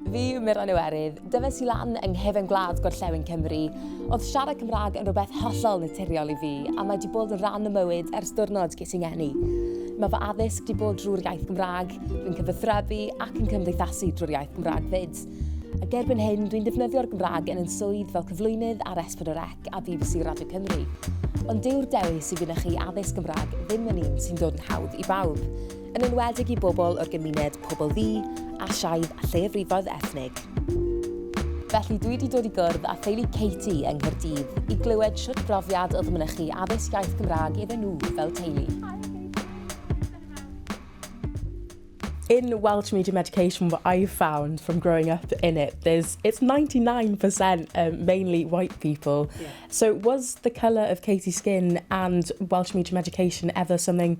Fi yw Miran Iwerydd, dyfes i lan yng nghefn gwlad gorllewin Cymru. Oedd siarad Cymraeg yn rhywbeth hollol naturiol i fi, a mae wedi bod yn rhan o mywyd ers diwrnod ges i ngeni. Mae fy addysg wedi bod drwy'r iaith Gymraeg, dwi'n cyfathrebu ac yn cymdeithasu drwy'r iaith Gymraeg fyd. Ac erbyn hyn, dwi'n defnyddio'r Gymraeg yn yn swydd fel cyflwynydd ar S4C a BBC Radio Cymru. Ond dyw'r dewis i fynychu addysg Gymraeg ddim yn un sy'n dod yn hawdd i bawb. yn enwedig i bobl o'r gymuned pobl ddu, Asiaidd a lleiafrifoedd ethnig. Felly dwi wedi dod i gwrdd â theulu Katie yng Nghaerdydd i glywed sut brofiad oedd mynychu addysg iaith Gymraeg iddyn nhw fel teulu. in Welsh medium education, what I've found from growing up in it, there's it's 99% um, mainly white people. Yeah. So was the colour of Katie's skin and Welsh medium education ever something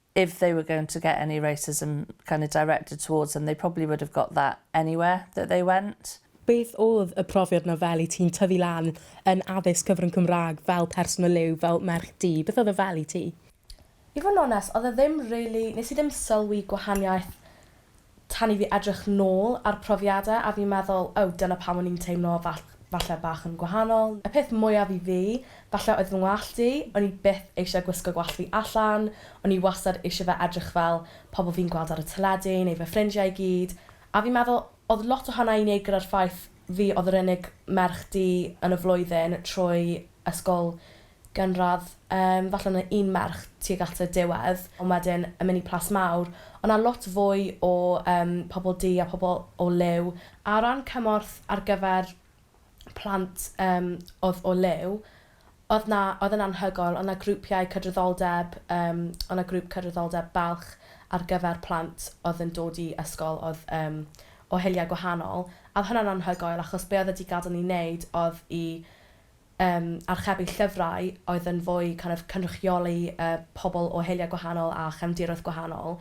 if they were going to get any racism kind of directed towards them they probably would have got that anywhere that they went. Beth oedd y profiad 'na fel i ti'n tyfu lan yn addysg cyfrwng Cymraeg fel person o liw, fel merch du, beth oedd e fel i ti? I fod yn onest, oedd e ddim rili, nes i ddim sylwi gwahaniaeth tan i fi edrych nôl ar profiadau a fi'n meddwl, o, dyna pam o'n i'n teimlo fall- falle bach yn gwahanol. Y peth mwyaf i fi, falle oedd fy ngwallt i, o'n i byth eisiau gwisgo gwallt fi allan, o'n i wastad eisiau fe edrych fel pobl fi'n gweld ar y teledu neu fy ffrindiau i gyd, a fi'n meddwl oedd lot o hwnna i wneud gyda'r ffaith fi oedd yr unig merch du yn y flwyddyn trwy ysgol gynradd, yym, falle na un merch tuag at y diwedd, ond wedyn yn mynd i Plas Mawr. Oedd 'na lot fwy o yym pobl du a pobl o liw. A o ran cymorth ar gyfer plant yym oedd o liw, oedd 'na, oedd e'n anhygoel. Oedd 'na grwpiau cydraddoldeb, yym, oedd 'na grŵp cydraddoldeb balch ar gyfer plant oedd yn dod i ysgol oedd yym o hiliau gwahanol. A oedd hwnna'n anhygoel achos be oedd e 'di gadael ni wneud oedd i yym, archebu llyfrau oedd yn fwy kind of cynrychioli yy pobl o heuliau gwahanol a chefndiroedd gwahanol,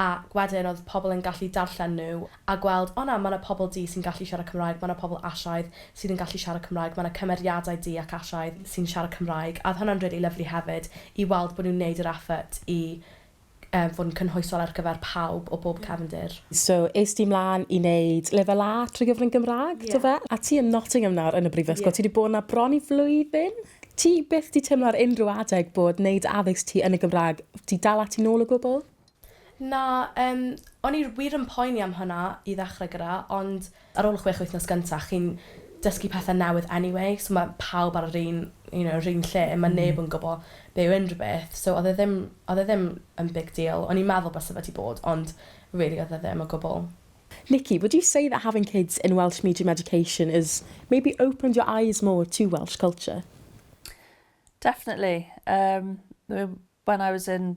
ac wedyn oedd pobl yn gallu darllen nhw a gweld, o na, mae 'na pobl du sy'n gallu siarad Cymraeg, mae 'na pobl Asiaidd sydd yn gallu siarad Cymraeg, mae 'na cymeriadau du ac Asiaidd sy'n siarad Cymraeg, a oedd hwnna'n rili lyfli hefyd i weld bod nhw'n 'neud yr effort i yy fod yn cynhwysol ar gyfer pawb o bob cefndir. So, es ti mlan i neud Lefel A trwy gyfrwng Gymraeg? Ie. Dofe? A ti yn Nottingham nawr yn y Brifysgol. Ie. Ti 'di bod 'na bron i flwyddyn. Ti byth 'di teimlo ar unrhyw adeg bod neud addysg ti yn y Gymraeg 'di dal ati nôl o gwbl? Na, yym, o'n i wir yn poeni am hwnna i ddechrau gyda, ond Ar ôl y chwech wythnos gyntaf, chi'n dysgu pethau newydd anyway, so mae pawb ar yr un, you know, yr un lle, mae neb yn gwybod be yw unrhyw beth, so oedd e ddim, oedd e ddim yn big deal. O'n i'n meddwl byse fe 'di bod, ond rili oedd e ddim o gwbl. Nikki, would you say that having kids in Welsh medium education has maybe opened your eyes more to Welsh culture? Definitely. Erm, when I was in